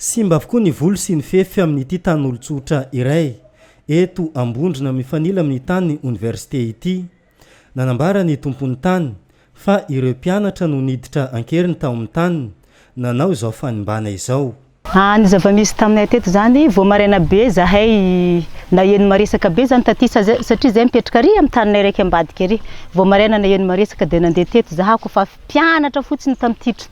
Simba avokoa ny voly sy ny fefy amin'ity tanin'olon-tsotra iray eto Ambondrona mifanila amin'ny tanin'ny oniversite ity. Nanambara ny tompon'ny tany fa ireo mpianatra no niditra an-keriny tao amin'ny taniny nanao izao fanimbàna izao. Raha ny zava-misy taminay teto izany, vao maraina be izahay naheno ny maresaka be izany taty satria izahay mipetraka ary amin'ny taninay raika ambadika ary. Vao maraina naheno ny maresaka dia nandeha teto izahay koa fa mpianatra fotsiny tamin'ity.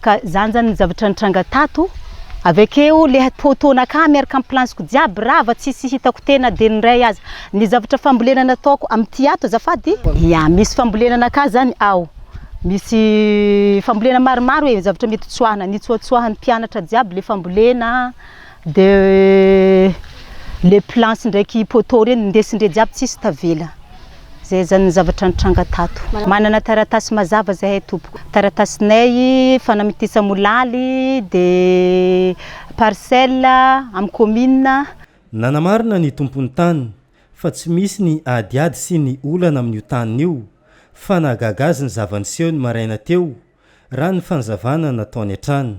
Ka zany zany zavatra nitranga tato, avy akeo le toatoana ka miaraka am plansiko jiaby rava tsisy hitako tena de ny ray aza, ny zavatra fambolena nataoko amty ato azafady, ya misy fambolena naka zany ao, misy fambolena maromaro e zavatra mety tsoahina, nitsoatsoahiny mpianatra jiaby le fambolena de le planche ndraiky poteau reny ndesindre jiaby tsisy tavela. Zay zany ny zavatra nitranga tato. Manana taratasy mazava zahay tompoko. Taratasinay fanamitisa molaly de parcelle am commune. Nanamarina ny tompon'ny tany fa tsy misy ny adiady sy ny olana amin'io taniny io fa nahagaga azy ny zava-niseho ny maraina teo raha ny fanazavana nataony hatrany.